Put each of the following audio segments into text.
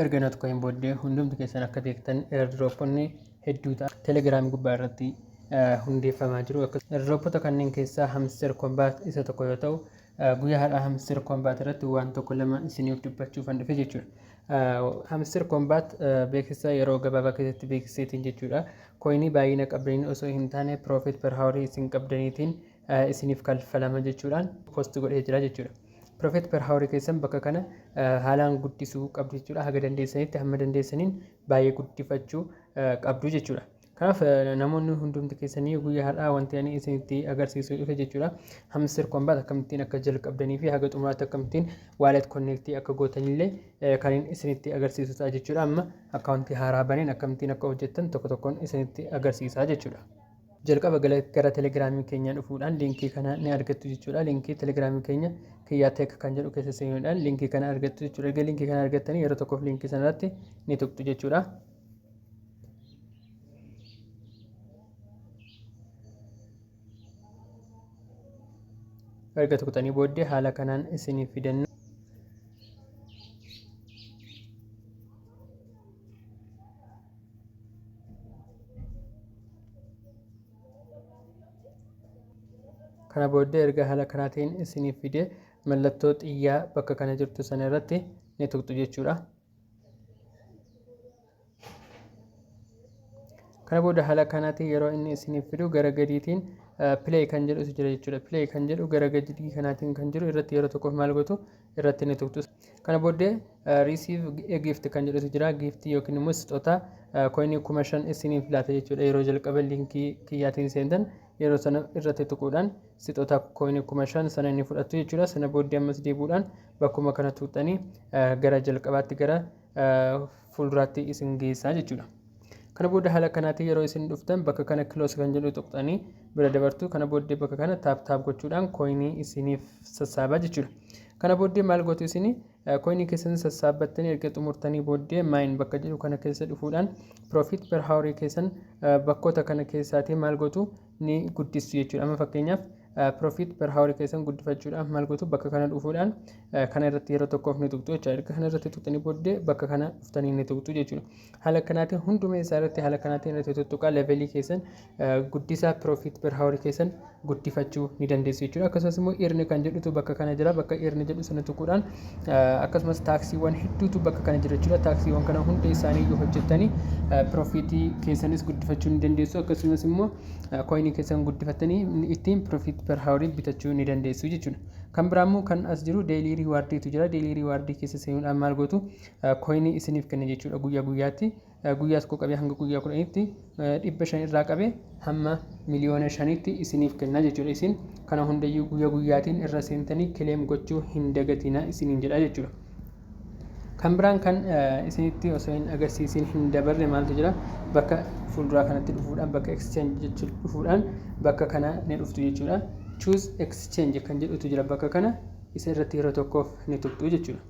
Erga na tokkoon booddee hundumti keessan akka beektan airdroponni hedduu ta'a. Telegram gubbaa irratti hundeeffamaa jiru. Airdropota kanneen keessaa hamster combat isa tokko yoo ta'u guyyaa har'aa hamster combat irratti waan tokko lama isiniif dubbachuuf kan dhufe jechuudha. Hamster combat beeksisa yeroo gabaabaa keessatti beeksiseetiin jechuudha. Koinii baay'ina qabdaniin osoo hin taane profit per hour isin qabdaniitiin isiniif kalfalama jechuudhaan post godhee jira jechuudha. Profit per hour keessan bakka kana haalaan guddisuu qabdu jechuudha. Haga dandeessanitti hamma dandeessaniin baay'ee guddifachuu qabdu jechuudha. Kanaaf namoonni hundumti keessanii guyyaa har'aa wanti ani isinitti agarsiisuu dhufe jechuudha. Hamster Combat akkamittiin akka jalqabdanii fi haga xumuraatti akkamittiin wallet connect akka gootanillee kan isinitti agarsiisu ta'a jechuudha. Amma akkaawuntii haaraa baneen akkamittiin akka hojjettan tokko tokkoon isinitti agarsiisaa jechuudha. Jalqaba gara telegiraamii keenyaa dhufuudhaan liinkii kana ni argattu jechuudha. Liinkii telegiraamii keenya kiyyaa teek kan jedhu keessa seenuudhaan liinkii kana argattu jechuudha. Erga liinkii kana argattanii yeroo tokkoof liinkii sana irratti ni tuqxu jechuudha. Erga tuqxanii booddee haala kanaan isiniif fidanna. kana booddee erga haala kanaatiin isiniif fidee mallattoo xiyyaa bakka kana jirtu sana irratti ni tuqxu jechuudha. Kana booda haala kanaatiin yeroo inni isiniif fidu gara gadiitiin pilee kan jedhu jira jechuudha. Pilee kan jedhu gara gadii kanaatiin kan jiru irratti yeroo tokkoof maal gootu irratti ni tuqxu. Kana booddee receive a gift kan jedhutu jira. Giiftii yookiin immoo sixotaa koinii kuma shan isiniif laata jechuudha. Yeroo jalqaba liinkii kiyyaatiin seentan yeroo sana irratti tuquudhaan sixotaa koinii kuma shan sana ni fudhattu jechuudha. Sana booddee ammas deebuudhaan bakkuma kana tuqxanii gara jalqabaatti gara fuulduraatti isin geessaa jechuudha. Kana booda haala kanaatiin yeroo isin dhuftan bakka kana kiloos kan jedhu tuqxanii bira dabartu. Kana booddee bakka kana taap taap gochuudhaan kooyinii isiniif sassaabaa jechuudha. Kana booddee maal gootu isin kooyinii keessan sassaabbattanii erga xumurtanii booddee maayin bakka jedhu kana keessa dhufuudhaan piroofiit per haawarii keessan bakkoota kana keessaatii maal gootu ni guddistu jechuudha. Amma fakkeenyaaf profit per hour keessan guddifachuudhaaf maal gootu bakka kana dhufuudhaan kana irratti yeroo tokkoof ni tuqxu jechuudha. Erga kana irratti tuqxanii booddee bakka kana dhuftanii ni tuqxu jechuudha. Haala kanaatiin hunduma isaa irratti haala kanaatiin irratti tuttuqaa levelii keessan guddisaa profit per hour keessan guddifachuu ni dandeessu jechuudha. Akkasumas immoo irni kan jedhutu bakka kana jira bakka irni jedhu sana tuquudhaan akkasumas taaksiiwwan hedduutu bakka kana jira jechuudha. Taaksiiwwan kana hunda isaanii yoo hojjettanii piroofiitii keessanis guddifachuu ni dandeessu akkasumas immoo kooyinii keessan guddifattanii ittiin piroofiit per haawarii bitachuu ni dandeessu jechuudha. Kan biraa immoo kan as jiru deelii riiwaardiitu jira. Deelii riiwaardii keessa seenuudhaan maal gootu kooyinii isiniif kenna jechuudha guyyaa guyyaatti. Guyyaa tokkoo qabee hanga guyyaa kudhanitti dhibba shan irraa qabee hamma miliyoona shanitti isiniif kenna jechuudha. Isin kana hundayyuu guyyaa guyyaatiin irra seentanii kileem gochuu hin dagatina isiniin jedha jechuudha. Kan biraan kan isinitti osoo hin agarsiisiin hin dabarre maaltu jira? Bakka fuulduraa kanatti dhufuudhaan bakka exchange jechuun dhufuudhaan bakka kana ni dhuftu jechuudha. Choose exchange kan jedhutu jira bakka kana isa irratti yeroo tokkoof ni tuqxu jechuudha.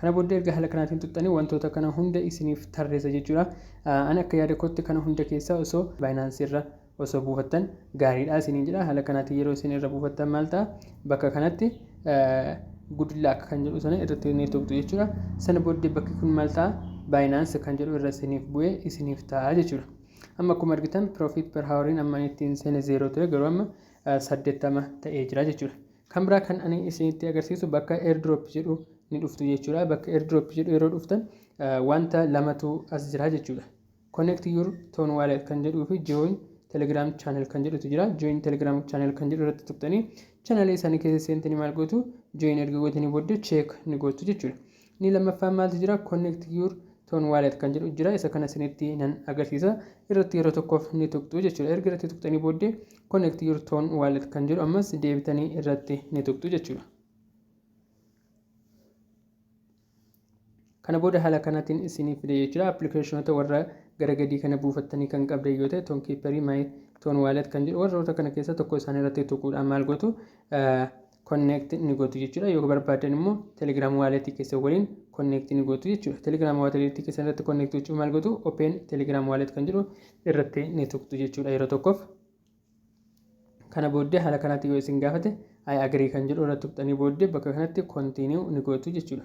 Kana booddee erga haala kanaatiin tuqxanii wantoota kana hunda isiniif tarreessa jechuudha. Ani akka yaada kootti kana hunda keessaa osoo Binance irra osoo buufattan gaariidha isiniin jedha. Haala kanaatiin yeroo isin irra buufattan maal ta'a? Bakka kanatti good luck kan jedhu sana irratti ni tuqxu jechuudha. Sana booddee bakki kun maal ta'a? Binance kan jedhu irra isiniif bu'ee isiniif ta'a jechuudha. Amma akkuma argitan profit per houriin amma ittiin seene zeeroo ture garuu amma saddeettama ta'ee jira jechuudha. Kan biraa kan ani isinitti agarsiisu bakka airdrop jedhu ni dhuftu jechuudha. Bakka airdrop jedhu yeroo dhuftan wanta lamatu as jira jechuudha. Connect your ton wallet kan jedhuu fi join telegram channel kan jedhutu jira. Join telegram channel kan jedhu irratti tuqxanii channel isaanii keessa seentanii maal gootu join erga gootanii booddee check ni gootu jechuudha. Inni lammaffaan maaltu jira? Connect your Ton Wallet kan jedhu jira. Isa kana isinitti nan agarsiisa. Irratti yeroo tokkoof ni tuqxu jechuudha. Erga irratti tuqxanii booddee Connect your Ton Wallet kan jedhu ammas deebitanii irratti ni tuqxu jechuudha. Kana booda haala kanaatiin isinii fide jechuudha. Appilikeeshinoota warra gara gadii kana buufattanii kan qabdan yoo ta'e Ton Keeperii Maay Ton Waalet kan jedhu warroota kana keessa tokko isaanii irratti tuquudhaan maal gootu connect ni gootu jechuudha yoo barbaadan immoo telegram wallet keessan waliin connect ni gootu jechuudha telegram wallet keessan irratti connect gochuuf maal gootu open telegram wallet kan jedhu irratti ni tuqxu jechuudha yeroo tokkoof kana booddee haala kanaatti yoo isin gaafate I agree kan jedhu irratti tuqxanii booddee bakka kanatti continue ni gootu jechuudha.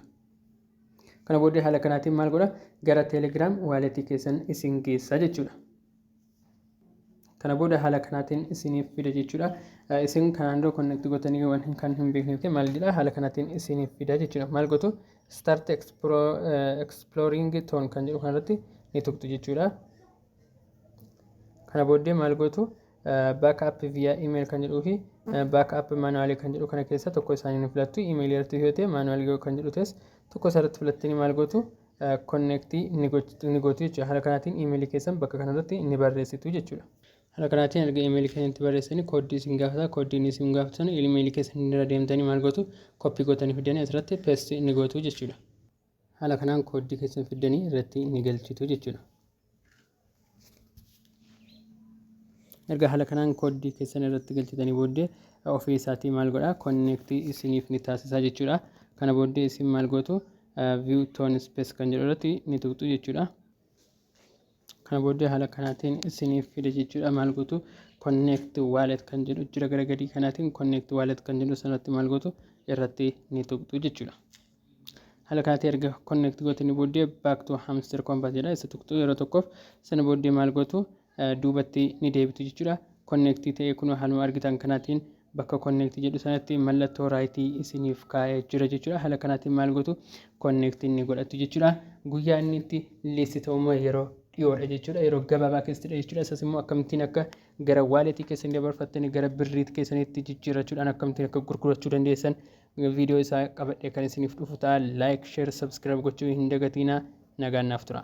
Kana booddee haala kanaatiin maal godha gara Telegram wallet keessan isin geessa jechuudha. kana booda haala kanaatiin isiniif fida jechuudha. Isin kanaan dura connect gootanii waan hin kan hin beekneef maal jedha haala kanaatiin isiniif fida jechuudha. Maal gootu start exploring tone kan jedhu kanarratti ni tuqxu jechuudha. Kana booddee maal gootu backup via email kan jedhuu fi backup manually kan jedhu kana keessa tokko isaanii ni filattu. Email irratti yoo ta'e manually yoo kan jedhu ta'es tokko isaarratti filattanii maal gootu connect ni gochtu- ni gootu jechuudha. Haala kanaatiin email keessan bakka kanarratti ni barreessitu jechuudha. Haala kanaatiin erga email keessan itti barreessanii kooddii isin gaafata. Kooddiin isin gaafatu sana email keessan irra deemtanii maal gootu koppii gootanii fiddanii asirratti paste ni gootu jechuudha. Haala kanaan kooddii keessan fiddanii irratti ni galchitu jechuudha. erga haala kanaan kooddii keessan irratti galchitanii booddee ofii isaatii maal godha konneektii isiniif ni taasisaa jechuudha kana booddee isin maal gootu view tone space kan jedhu irratti ni tuqxu jechuudha kana booddee haala kanaatiin isiniif fide jechuudha maal gootu konneekti waalet kan jedhu jira gara gadii kanaatiin konneekti waalet kan jedhu sanatti maal gootu irratti ni tuqxu jechuudha Haala kanatti erga connect gootanii booddee back to hamster compass jedha isa tuqxu yeroo tokkoof sana booddee maal gootu duubatti ni deebitu jechuudha. Connect ta'ee kun haaluma argitan kanaatiin bakka connect jedhu sanatti mallattoo raayitii isiniif kaa'ee jira jechuudha. Haala kanaatiin maal gootu connect ni godhattu jechuudha. Guyyaa inni itti list ta'u immoo yeroo dhiyoodha jechuudha. Yeroo gabaabaa keessattidha jechuudha. Isas immoo akkamittiin akka gara waaletii keessan dabarfattanii gara birriit keessanitti jijjiirrachuudhaan akkamittiin akka gurgurachuu dandeessan viidiyoo isaa qabadhee kan isiniif dhufu ta'a. Like, share, subscribe gochuu hin dagatiina. Nagaan naaf tura.